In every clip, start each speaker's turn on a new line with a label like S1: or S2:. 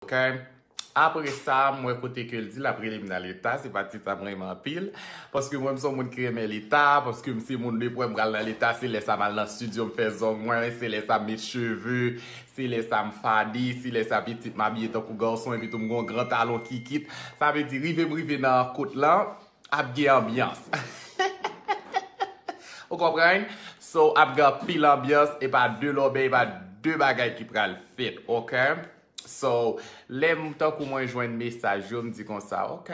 S1: Ok Apre sa m wè kote ke l di l ap rele m nan leta, se pa tit sa m renmen anpil. Paske mwen m son moun ki renmen leta, paske m se moun depi wè m pral nan leta se lè sa m al nan studio m fè zong mwen, se lè sa m met cheve, se lè sa m fade, se lè sa pitit m abiye tankou gason epitou m gen yon gran talon kikit. Sa vle di rive m rive nan kot lan ap gen anbyans. Ou konprann? So ap gen anpil anbyans, e pa de lòbèy, e pa de bagay ki pral fèt. Ok? So, lè m tankou mwen jwenn mesaj yo, m di konsa, ok,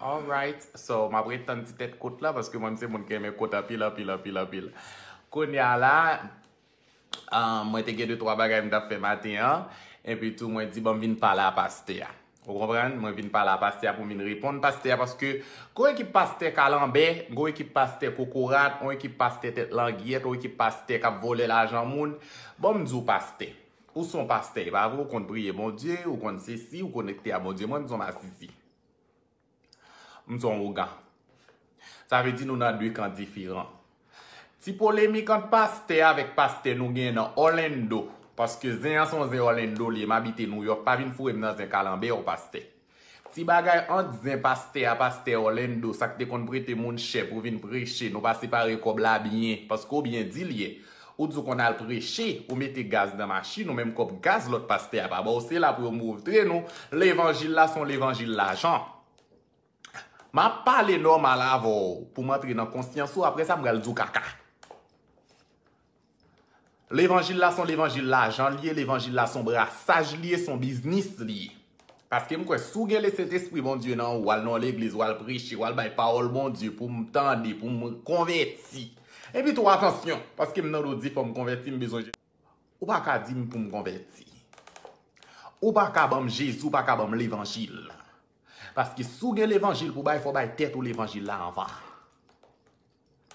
S1: alright. So, m ap ret tann ti tèt kot la, paske mwen m se moun ki renmen kot anpil, anpil, anpil, anpil. Kounye a la, mwen te gen de twa bagay m t ap fè maten an, epi tou mwen di bon m vin pale a pastè a. Ou konprann? Mwen vin pale a pastè a pou m vin reponn pastè a, paske gon ekip pastè kalanbè, gon ekip pastè kokorat, on ekip pastè tèt langyèt, on ekip pastè k ap vòlè lajan moun. Bon m di w pastè. Ou son pastè e pa vre ou konn priye Bondye ou konn sesi ou konekte a Bondye mwen m son masisi m son ougan sa vle di nou nan 2 kan diferan ti polemik ant pastè avèk pastè nou gen nan Orlando paske zen an son zen Orlando li ye m abite New York pa vin foure m nan zen kalanbè w pastè. Ti bagay ant zen pastè a pastè Orlando sak te konn prete moun chè pou vin preche nou pa separe kòb la byen paske ou byen di l yè ou di w konn al preche ou mete gaz nan machin ou menm kòb gaz lòt pastè a pa ba w se la pou yo moutre nou levanjil la se yon levanjil lajan m ap pale nòmal avè w pou m antre nan konsyans ou aprè sa m pral di w kaka. Levanjil la son levanjil lajan li ye, levanjil la son brasaj li ye, son biznis li ye. Paske m kwè si w gen lesentespri Bondye nan ou, w al nan yon legliz, w al preche, w al bay pawòl Bondye pou m tande, pou m konvèti. Epi tou atansyon, paske m tande w di fò m konvèti, m bezwen Jezi. Ou pa ka di m pou m konvèti. Ou pa ka ban m Jezi, ou pa ka ban m levanjil. Paske si w gen levanjil pou w bay, fò w bay tèt ou levanjil la anvan.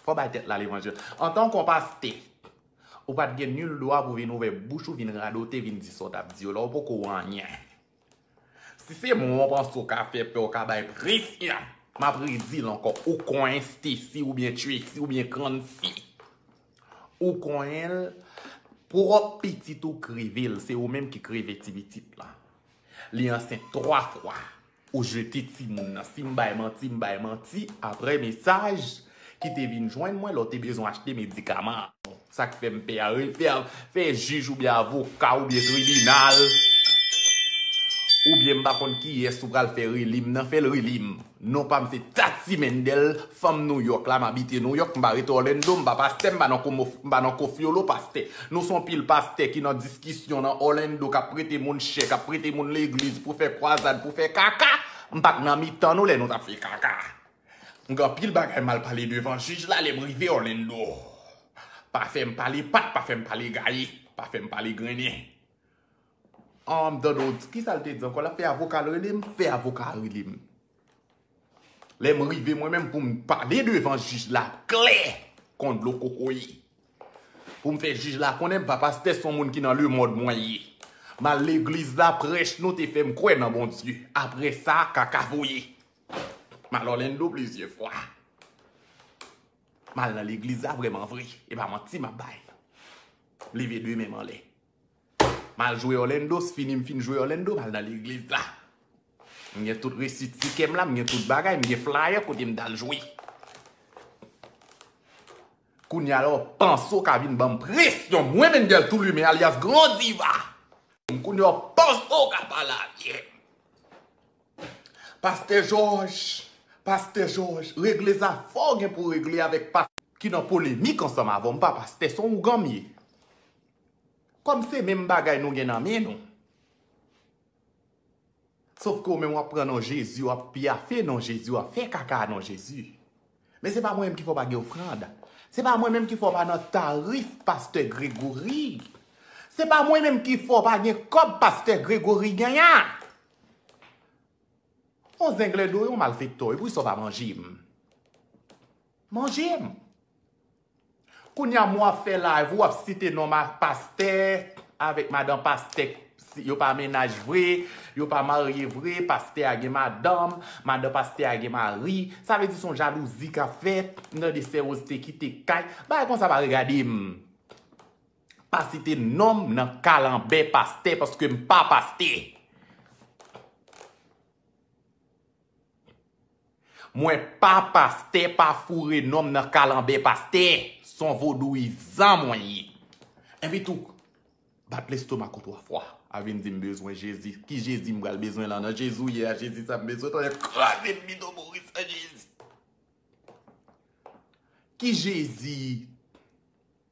S1: Fò bay tèt la levanjil. Antan kò paste, ou pat gen nul dwa pou vin ouvè bouch ou vin radote vin di sa w tap di yo la ou poko anyen. Si se mwen w panse w ka fè pè w ka bay presyon, map redil ankò ou konyen Stacy oubyen Tracy oubyen Krancy. Ou konyen l pwòp pitit ou kreve l se ou menm ki kreve ti pitit lan. Li ansent 3 fwa. Ou jete timoun nan. Si m bay manti, m bay manti, aprè mesaj ki te vin jwenn mwen lè w te bezwen achte medikaman an. Sa k fè m pè a, refè a, fè jij oubyen avoka oubyen tribinal, oubyen m pa konn kiyès ou pral fè rele m nan, fè l rele m. Non pa m se Tatie Mendel, fanm Nouyòk la, m abite Nouyòk, m pa rete Orlando, m pa pastè, m pa nan Koffi Olo, pastè. Nou s on pil pastè ki nan. kisyon nan Orlando kap prete moun chè, kap prete moun legliz pou fè kwazad, pou fè kaka, m pat nan mitan nou lè nou tap fè kaka. M gen anpil bagay mal pale devan jij la lèm rive Orlando. Pa fèm pale pat, pa fèm pale gaye, pa fèm pale grennen. Humm Donald, kisa l te di ankò? Lap fè avoka l rele m? Fè avoka a rele m. Lèm rive mwen menm poum pale devan jij la klè kon dlo kokoye. Poum fè jij la konnen m pa pastè son moun ki nan lemond mwen ye. M al legliz la prèch nou te fèm kwè nan Bondye. Aprè sa kaka voye. M al Orlando plizyè fwa. M al nan legliz la vrèman vre. E pa manti map bay. M leve 2 menm anlè. Mal jwe Orlando, s fini m fin jwe Orlando, m al nan legliz la. M gen tout resit tikè m la, m gen tout bagay, m gen flyer kote m t al jwe. Kounye a la w panse w ka vin ban m presyon, mwen Mendel Tou Limen alyas Gran Diva, kounye a w panse w ka pale avè m. Pastè Jòj, Pastè Jòj, regle zafè w gen pou w regle avèk pastè ki nan polemik ansanm avè w, m pa pastè, s on ougan m ye. Kòm se menm bagay nou gen nan men nou. Sof ke ou menm wap pran non Jezi wap pyafe non Jezi wap fè kaka a non Jezi. Men se pa mwen menm ki fè w pa gen ofrand. Se pa mwen menm ki fè w pa nan tarif pastè Gregory. Se pa mwen menm ki fè w pa gen kòb pastè Gregory gen an. Yon zenglendo yon malfektò epou sa w pa manje m. Manje m. Kounya m wap fè live ou wap site non ma pastè avèk madan pastè yo pa mennaj vre yo pa marye vre pastè a gen madanm madan pastè a gen mari sa vle di son jalouzi kap fèt m tande sè Rose te kite kay bagay konsa pa regade m pa site non m nan kalanbè pastè paske m pa pastè. Mwen pa pastè pa foure nonm nan kalanbè pastè son vodouyizan mwen ye epi tou bat lestomak ou 3 fwa a vin dim bezwen jezi ki jezi m pral bezwen lan nan jezi ou ye a jezi sa m bezwen tande kraze bidon moris la jezi ki jezi.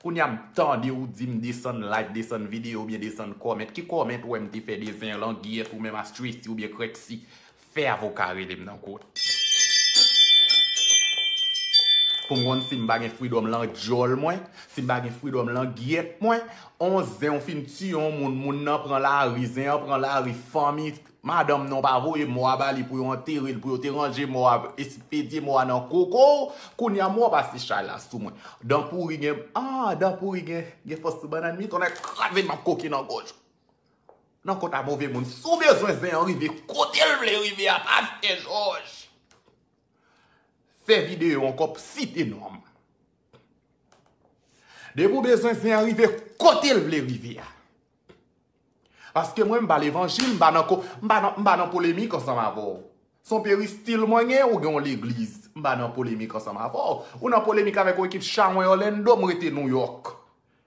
S1: Kounya m tande ou dim desann like desann video oubyen desann comment ki comment ou wè m te fè dezen an langyèt ou menm a stressy oubyen krèksy fè avoka rele m nan kot pou m konn si m pa gen freedom lan dyòl mwen si m pa gen freedom lan gyèt mwen on zen ou fin tiye on moun moun nan pran lari zen an pran lari fanmi Madanm non pa voye mò a bali pou yo anterel pou yo te ranje mò a espedye mò a nan kokow kounya mò pase chay la sou mwen dan pouri gen ah dan pouri gen gen fòs sou banann mi tonnè kraze map koke nan gòj ou nan kont a move moun sou bezwen zen an rive kotel vle rive a pastè jòj fè video ankò pou site nonm depi ou bezwen zen an rive kotel vle rive a. Paske mwen m pa levanjil, m pa nan ko, m pa nan, m pa nan polemik ansanm avè w. Se yon peristil mwen gen, ou gen yon legliz. M pa nan polemik ansanm avè w. Ou nan polemik avèk yon ekip chawony Orlando, m rete New York.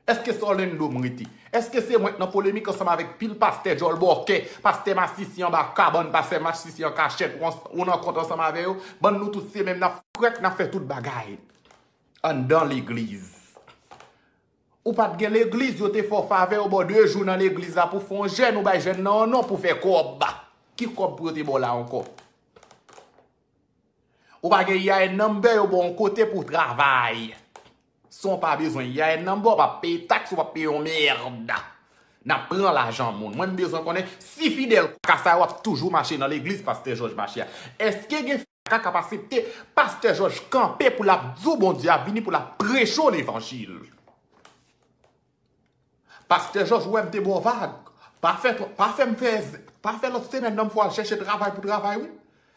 S1: Eske se Orlando m rete? Eske se mwen k nan polemik ansanm avèk pil pastè djòl bòkè, pastè masisi anba kabann, pastè masisi an kachèt, ou nan kont ansanm avè yo? Bann nou tout se menm, n ap frèt, n ap fè tout bagay anndan legliz. Ou pat gen legliz yo te fè w favè yo baw 2 jou nan legliz la pou fè yon jèn ou bay jèn nan yon non pou fè kòb ki kòb pou yo te baw la ankò ou pa gen EIN number yo baw yon kote pou travay san w pa bezwen EIN number ou pa peye tax ou pa peye yon merd nap pran lajan moun mwen m bezwen konnen si fidèl kaka sa yo ap toujou mache nan legliz pastè jòj mache a eske gen Ka kap asepte pastè joj kanpe pou lap diw bondye ap vini pou lap preche w levanjil pastè joj ou wèm te baw vag pa fè pa fèm fè pa fè lot semèn nan m fè w al chèche travay pou travay wi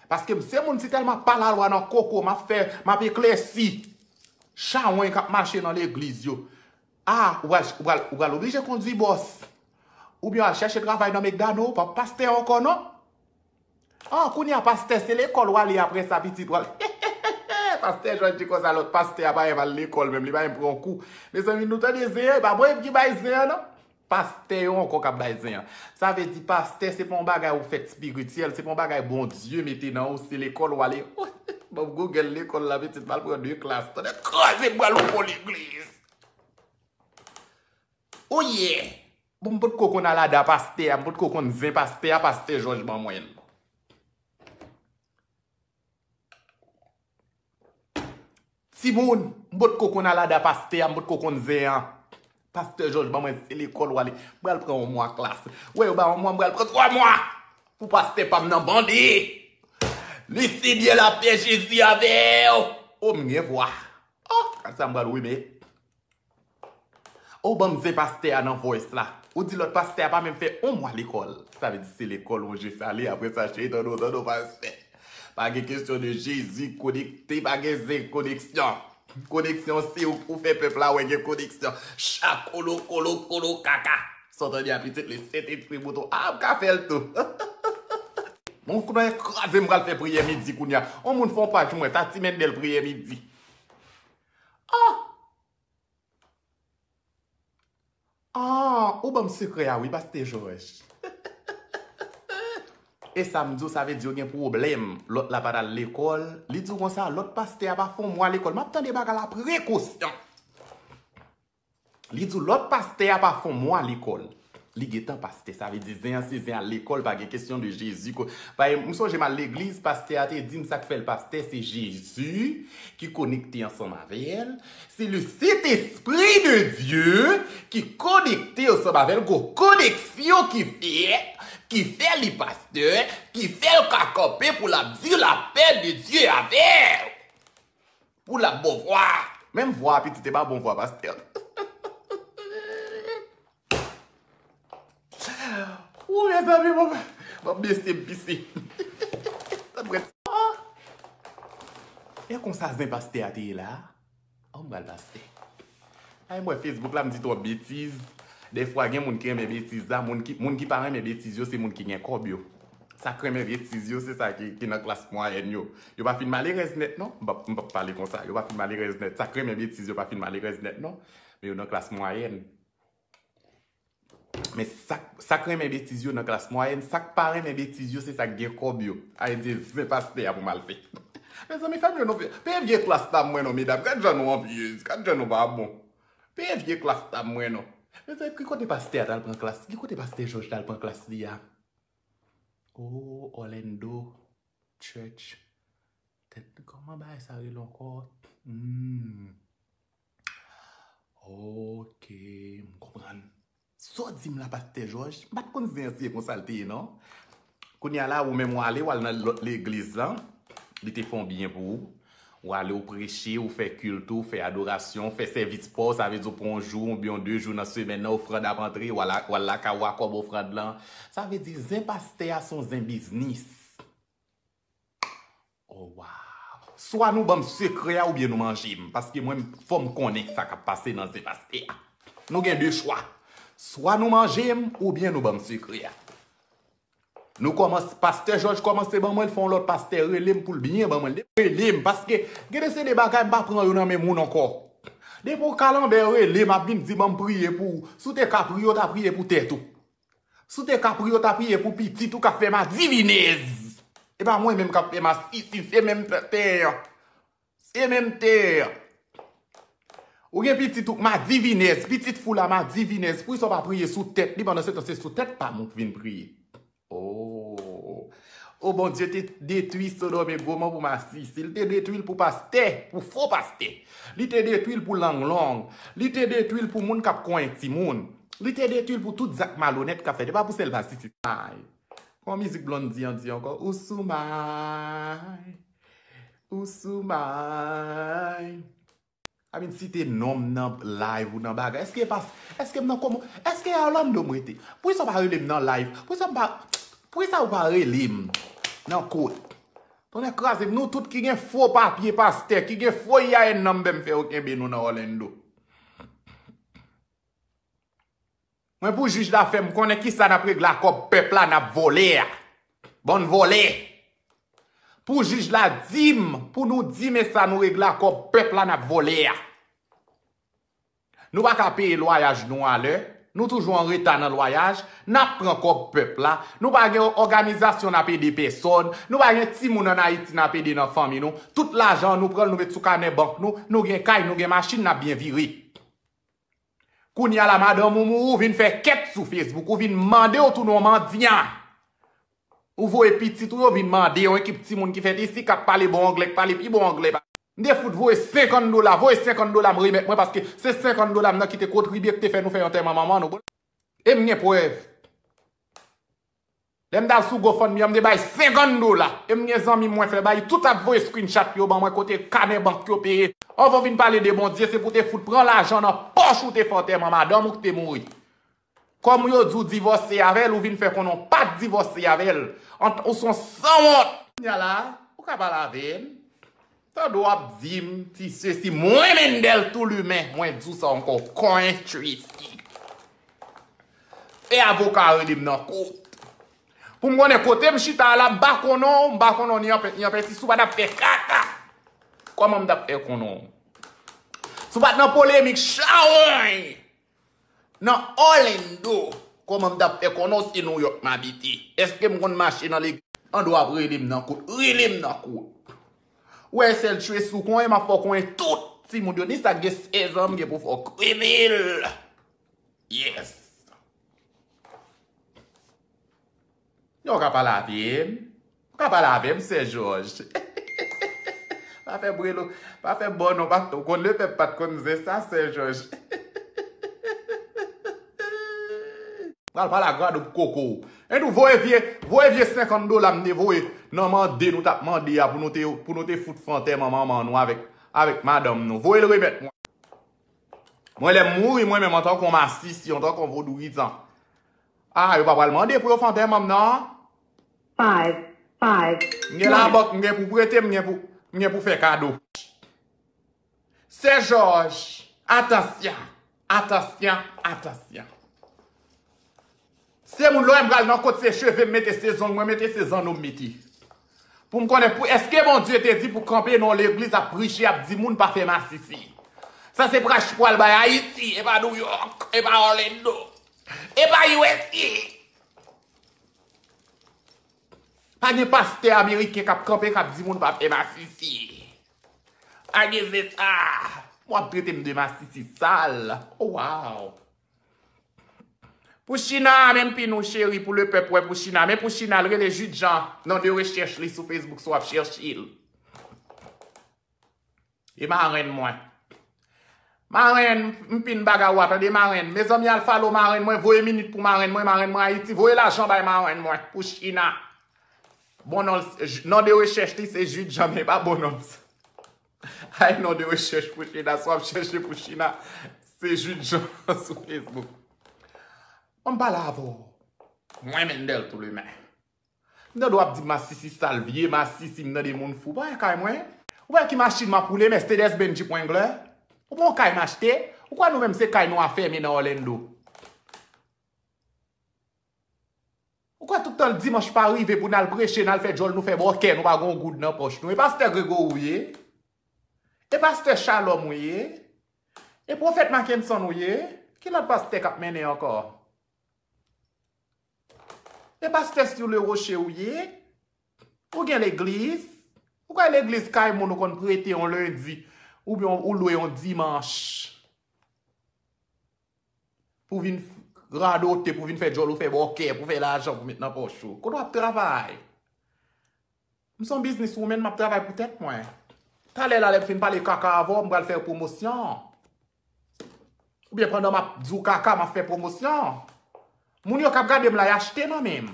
S1: paske m se moun si telman pa la lwa nan koko map fè map eklèsi chawony kap mache nan legliz yo a ou pral ou pral oblije kondwi bòs oubyen al chèche travay nan mekdano ou pap pastè ankò non An kounya pastè se lekòl wale aprèsa pitit wap heheheh pastè jòj di konsa lòt pastè a pa menm al lekòl menm li pa menm pran yon kou mezanmi nou tande zen an epa mwen ki bay zen an non pastè yo ankò kap bay zen an sa vle di pastè se pa yon bagay ou fèt spirityèl se pa yon bagay Bondye mete nan ou se lekòl wale oheheh banm google lekòl la pitit m al pran 2 klas tonnè kraze m pral yon fo legliz ouyè. Bon m pot ko konn alada pastè a m pot ko konn zen pastè a pastè jòj ban mwen l. Timoun m pot ko konn alada pastè a m pot ko konn zen an pastè jòj ban mwen l se lekòl wale m pral pran yon mwa klas wè yo ba yon mwa m pral pran 3 mwa pou pastè pa m nan bande Lucie byen lapè jezi avè w oh m gen vwa oh kasa m pral remet. Ou banm zen pastè a nan voice la. Ou di lòt pastè a pa menm fè on mwa lekòl. Sa vle di se lekòl on je sale aprè sa cheytan nou tande w pastè. Pa gen kesyon de jezi konekte pa gen zen koneksyon. Koneksyon se ou pou fè pèp la wè gen koneksyon. Cha kolo kolo kolo kaka. Sot an di a pitit li sentespri mouton a m ka fè l tou. Bon kouman e kraze m pral fè priyè midi kounya. On moun fè on paj mwen sa timènèl priyè midi. Ohh Ahh ou banm sekrè a wi Pasteur Georges Esam diw sa vle di yo gen pwoblèm lòt la pat al lekòl li diw konsa lòt pastè a pa fon mwa lekòl map tande bagay la prekosyon. Li di w lòt pastè a pa fon mwa lekòl. Li gentan pastè. Sa vle di zen an se zen al lekòl pa gen kesyon de Jezi ko. Pae m sonje m al legliz pastè a te di m sa k fè l pastè se Jezi ki konekte ansanm avè l. Se le Sentespri de Dye ki konekte ansanm avè l. Gon koneksyon ki fèt ki fè li pastè, ki fè l ka kanpe pou l ap di lapè de Dye avè w. Pou la bon vwa. Menm vwa pitit e pa bon vwa pastè. Ooh mezanmi mwen map bese m pise. E konsa zen pastè a te ye la? An m pral pastè. Ay m wè Facebook la m di twòp betiz. Dèfwa gen moun ki renmen betiz la. Moun ki pa renmen betiz yo se moun ki gen kòb yo. Sa k renmen betiz yo se sa ki nan klas mwayèn yo. Yo pa fin malerèz nèt non. M p ap pale konsa. Yo pa fin malerèz nèt. Sa k renmen betiz yo pa fin malerèz nèt non. Men yo nan klas mwayèn. Men sak renmen betiz yo nan klas mwayèn, sak pa renmen betiz yo se sak gen kòb yo. Ay di zen pastè a pou mal fè. Mezanmi fèm yon nou peye vye klas pa mwen non medam gad jan nou anvyez, gad jan nou pa bon. Peye vye klas pa mwen non. Mezanmi ki kote pastè a tal pran klas, ki kote pastè Jòj tal pran klas li a. Oh Orlando church. Tèt kòman bagay sa rele ankò? Humm. Ok, m konprann. Sa w di m la pastè Jòj, m pa t konn zen an se konsa l te ye non. Kounye a la ou menm w ale w al nan lòt legliz lan, li te fè yon byen pou ou. Ou ale ou preche, ou fè kilt ou, fè adorasyon, ou fè sèvis pa w, sa vle di ou pran yon jou oubyen yon de jou nan semèn nan ofrand ap antre, w al lakay ou a kòb ofrand lan. Sa vle di zen pastè a se yon zen biznis. Oh waww swa nou banm sekrè a ou byen nou manjem paske mwen fòm konnen sa kap pase nan zen pastè a nou gen 2 chwa swa nou manjem ou byen nou banm sekrè a nou kòmanse pastè jòj kòmanse ban mwen l fò yon lòt pastè relem poul byen ban mwen l depi relem paske gen de se de bagay m pa pran yo nan men moun ankò depi yon kalanbè relem ap vin di banm priye pou ou si w te ka priye w ta priye pou tèt ou. Si w te ka priye, w ta priye pou pitit ou k ap fè madivinez. E pa mwen menm k ap fè masisi, se menm tè an. Se menm tè an. Ou gen pitit ou k madivinez, pitit fou la madivinez, poukisa w pa priye sou tèt li pandan se tan se sou tèt pa m ou vin priye? Oo! Oh Bondye te detwi sodom e gomò pou masisi li te detwil pou pastè pou fo pastè li te detwil pou lang long li te detwil pou moun kap konyen timoun li te detwil pou tout zak malonèt kap fèt epa pou sèl masisi may kòman mizik blondy an di ankò ou sou may ou sou may. I mean site nonm nan live ou nan bagay eske epa eske m nan komo eske e orlando m rete poukisa ou pa rele m nan live poukisa m pa poukisa ou pa rele m nan kot tonnè kraze m nou tout ki gen fo papye pastè ki gen fo IAN nan m bem fè yo kenbe nou nan orlando. Mwen pou jij la fèm konnen kisa nap regle a kòb pèp la nap vòlè a. Bann vòlè. Pou jij la dim pou nou dim esa nou regle a kòb pèp la nap vòlè a. Nou pa ka peye lwayaj nou a lè, nou toujou an reta nan lwayaj, nap pran kòb pèp la, nou pa gen òganizasyon nap ede pèsòn, nou pa gen timoun an Ayiti nap ede nan fanmi nou, tout lajan an nou pranl nou met sou kanè bank nou, nou gen kay nou gen machin nap byen vire. Kounya la madanm ou mouri ou vin fè kèt sou Facebook ou vin mande ou tounen yon mandyan. Ou voye pitit ou yo vin mande yon ekip timoun ki fèt isi kap pale bon anglè ki pale pi bon anglè pase. M te fout voye 50 dola, voye 50 dola m remèt mwen paske se 50 dola m nan ki te kontribye ki te fè nou fè antèman manman nou. E m gen prèv. Lèm tal sou gofundme an m te bay 50 dola e m gen zanmi mwen fè bay tout ap voye screenshot yo ban mwen kote kanè bank yo peye anvan w vin pale de Bondye se pou w te fout pran lajan nan pòch ou te fè antèman madanm ou k te mouri kòm yo di w divòse avèl ou vin fè konnen w pat divòse avèl ou son sanwont kounya la ou ka pale avèm Tande w ap di m ti sesi mwen Mendel tou limen mwen di w sa anko konyen Tracy e avoka a rele m nan kot pou m konnen kote m chita a la m pa konnen w m pa konnen w ni anpè ni anpè si w pa tap fè kaka koman m tap fè konnen w si w pat nan polemik chawony. Nan Orlando, kòman m t ap fè konnen w se Nouyòk m abite? Èske m konn mache nan legliz? Andò w ap rele m nan kout, rele m nan kout. Ou wè sèl Tracy ou konnen, m ap fè w konnen tout timoun yo, ni sa k gen sèzan m gen pou fè w konnen l. Yes. Yo w ka pale avm. W ka pale avm sè joj. Pa fè bri non. Pa fè bò non. Ou konn le pèp pat konn zen sa sè joj. Pral pale a gwadoup koko w. En tou voye vye voye vye 50 dola m te voye nan mande nou tap mande a pou nou te pou nou te fout fè antèman manman nou avèk avèk madanm nou. Voye l remèt mwen. Mwen lè m mouri mwen menm antanke yon masisi antanke yon vodouyizan. Ah yo pa pral mande pou yo fè antèmanm nan.
S2: Five five twenty. M gen labòk m
S1: gen pou prete m gen pou m gen pou fè kado. Sè Jòj, atansyon, atansyon, atansyon. Se moun lè w wè m pral nan kot se cheve m mete se zong mwen mete se zanno m mete. Pou m konnen pou èske Bondye te di pou kanpe nan yon legliz ap priche ap di moun pa fè masisi. Sa se prach pral bay Ayiti epa Nouyòk epa Orlando Epa usa Pa gen pastè ameriken kap kanpe kap di moun pa fè masisi Pa gen zeta Wap trete m de masisi sal Oh waww Pou china menm pi nou cheri pou le pèp wè pou china men pou china l rele jude jean non de rechèch li sou facebook si wap chèche l. E marenn mwen. Marenn mpin baga wa tande marenn. Mezanmi al falo marenn mwen voye minit pou marenn mwen marenn mwen ayiti voye lajan bay marenn mwen pou china. Bon non non de rechèch li se Jude Jean men pa bon non. Ay non de rechèch pou china sou ap chèche pou china se Jude Jean sou Facebook. Bon mpala avèw. Mwen Mendel Touleme. M tande w ap di masisi sal vye masisi m tande moun fou pa wè kay mwen ou pa wè ki machin m ap woule mèsedès bènn jip wenglè ou pa wè kay m achte ou kwè nou menm se kay nou afème nan òlendo ou kwè tout tan dimanch pa rive pou n al preche n al fè djòl nou fè bòkè nou pa gen yon goud nan pòch nou e pastè gregory ou ye e pastè chalòm ou ye e pwofèt makenson ou ye ki lòt pastè k ap mennen ankò. E pastè sur le rocher ou ye? Ou gen legliz? Ou kwè legliz kay moun ou konn prete yon lendi oubyen ou lwe yon dimanch pou vin radote, pou vin fè djòl ou fè bòkè, pou fè lajan pou met nan pòch ou? Kote w ap travay? M son business woman map travay pou tèt mwen. Talè la lèm fin pale kaka avè w m pral fè w pwomosyon. Oubyen pandan map di w kaka map fè pwomosyon. Moun yo kap gade m la y achte nan men m.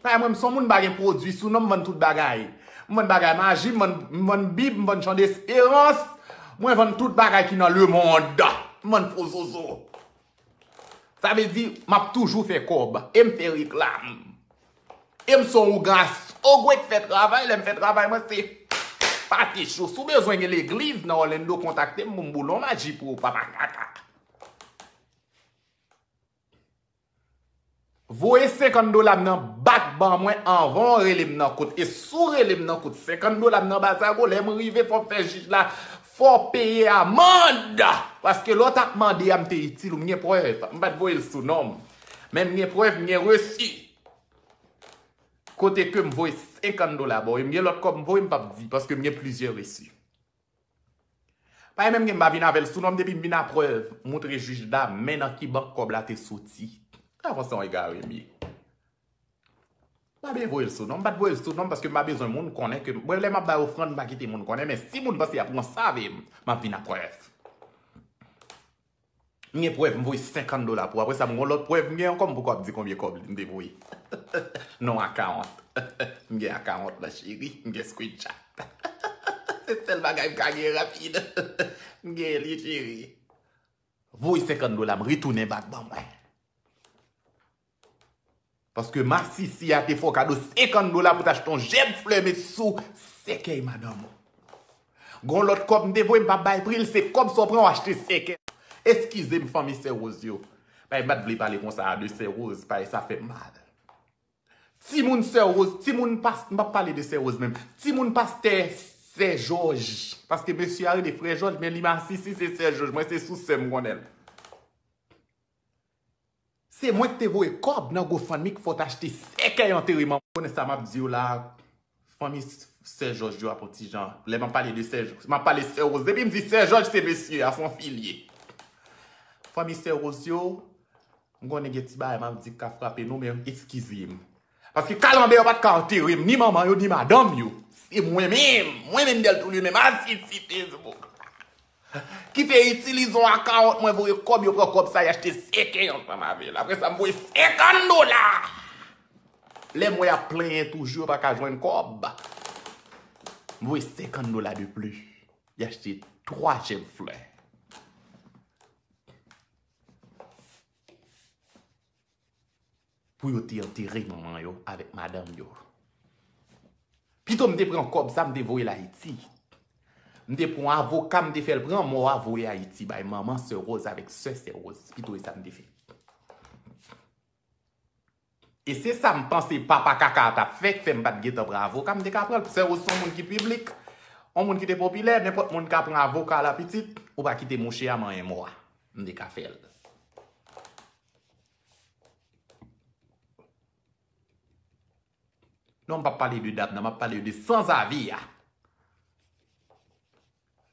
S1: Paske mwen m son moun m pa gen pwodwi sou non m vann tout bagay. M vann bagay maji, m vann bib, m vann jan desperans, mwen vann tout bagay ki nan lemond. M vann fo zozo. Sa vle di map toujou fè kòb e m fè reklam. E m son ougan asogwe k fè travay, lè m fè travay mwen se pate cho. Si w bezwen gen legliz nan Orlando kontakte m pou m boule yon maji pou ou papa kaka. Voye 50 dola m nan bak ban mwen anvan w rele m nan kot. E si w rele m nan kot 50 dola m nan bak sa yo, lè m rive fò m fè jij la fè w peye amand! Paske lè w tap mande a m te itil ou, m gen prèv. M pat voye l sou non m. Men m gen prèv, m gen resi. Kote ke m voye 50 dola ba w. E m gen lòt kòb m voye m pap di. Paske m gen plizyè resi. Pay menm gen m pa vin avèl sou non m depi m vin a prèv moutre jij la men nan ki bank kòb la te soti ta konn son egare m ye m pa byen voyel sou non m pat voyel sou non paske m pa bezwen moun konnen ke m lè map bay ofrann m pa kite moun konnen men si moun panse yap ranse avè m map vin a prèv. M gen prèv m voye 50 dola pou ou apresa m gon lòt prèv m gen ankò m poko ap di konbyen kòb m te voye non akawont m gen akawont lan cheri m gen screenshot se sèl bagay m ka gen rapid m gen li cheri voye 50 dola m retounen back ban mwen. Paske masisi a te fè w kado 50 dola pou t achte yon jèb flè met sou sèkèy madanm ou. Gon lòt kòb m te voye m pa bay pri l se kòb sa w pran w achte sèkèy. Eskize m fanmi Sè Rose yo. Bay m pa t vle pale konsa a de Sè Rose pae sa fè m mal. Timoun Sè Rose, timoun pas, m pa pale de Sè Rose menm. Timoun pastè Sè Jòj. Paske mesye a rele Frè Jòj men li masisi se Sè Jòj. Mwen se sous sè m konnen l. Se mwen ki te voye kob nan gofundme ki fot achte sèkèy antereman. Konnen sa map diw la fanmi sè jòj yo ap on ti jan lè map pale de sè jòj map pale sè rose depim di sè jòj se mesye a son fi liye fanmi sè rose yo mkonnen gen ti bagay map di kap frape nou men eskizem. Paske kalanbè yo pat ka anterem ni manman yo ni madanm yo. Se mwen menm, mwen menm Deltour li menm asisi Facebook la ki te itilize yon akawont mwen voye kòb yo pran kòb sa y achte sèkèy ansanm avèl. Aprè sa m voye 50 dola. Lè mwen ap plenyen toujou yo pa ka jwenn kòb. M voye 50 dola de plis. Y achte 3 jèb flè. Pou yo te antere manman yo avèk madanm yo. Pito m te pran kòb sa m te voye l Ayiti. M te pran yon avoka m te fè l pran mò a voye Ayiti bay manman Sè Woz avèk sè Sè Woz. Pito e sa m te fè. E se sa m panse papa kaka a t ap fè k fè m pa t gentan pran avoka. M te ka pran l. Sè Woz se yon moun ki piblik. Yon moun ki te popilè. Nenpòt moun ka pran avoka la pitit. Ou pa kite mouche a manyen mò a. M te ka fè l. Non m pa pale de dam nan, m ap pale de sanzavi a.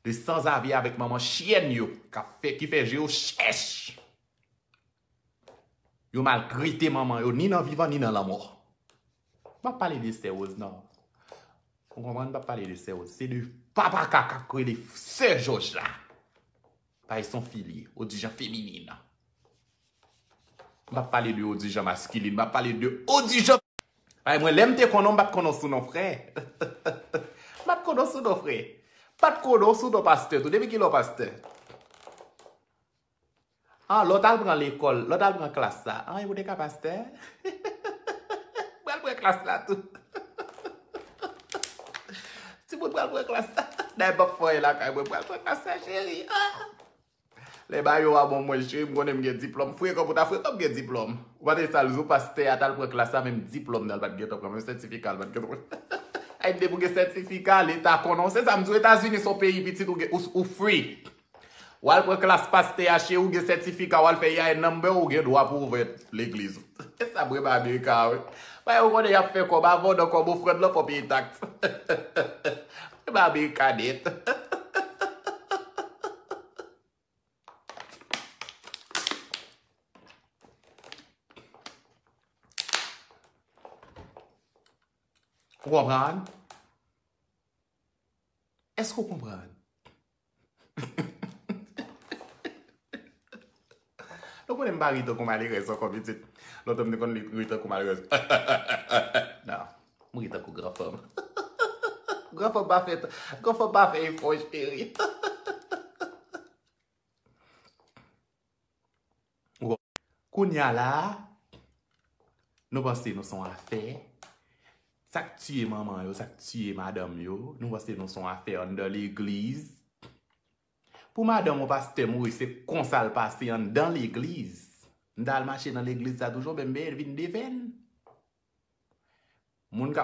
S1: De sanzavi a avèk manman chyèn yo ki fè je yo chèch. Yo maltrete manman yo ni nan vivan ni nan lanmò. M pa pale de sè Woz nan. Ou konprann m pa pale de sè Woz. Se de papa kaka k rele sè Jòj la. Pay son fili, odijan feminin. M pap pale de odijan maskilin, m ap pale de odijan. Pay mwen, lè m te konnen w m pa t konnen w sou non frè. M pa t konnen w sou non frè. M pa t konnen w sou non pastè tou. Depi ki lè w pastè? An, lè w t al pran lekòl, lè w t al pran klas la. An, epi w te ka pastè? M pral pran klas la tou. Ti moun pral pran klas la. Dayè bak fò e lakay mwen pral pran klas la cheri. Lè bayo a bon mwen cheri m konnen m gen diplòm. Frekan pou ta frekan m gen diplòm. Ou pa tande sa l di w pastè a t al pran klas la menm diplòm nan l pa t gentan pran menm sètifika l pa t gentan pran. Ayiti depi w gen sètifika leta konnen w se sa m di w etazini s on peyi pitit ou free. Wal pran klas pastè a cheri ou gen sètifika wal fè yay number ou gen dwa pou ouvè legliz ou esa brim amerika a wi bagay yo konnen yap fè kòb avan w nan kòb ofrand lan fò peye tax brim amerika nèt. Nou konnen m pa ri tankou malerèz ankò pitit. Lontan m te konn ri tankou malerèz. Non, m ri tankou gran fanm. Gran fanm pa fè, gran fanm pa fè efò cheri. Kounya la a, nou panse nou son afè. Sa k tiye manman yo, sa k tiye madanm yo, nou panse nou son afè anndan legliz. Pou madanm yon pastè mouri, se konsa l pase anndan legliz. M ta al mache nan legliz sa toujou, men m vin defen. Moun k ap.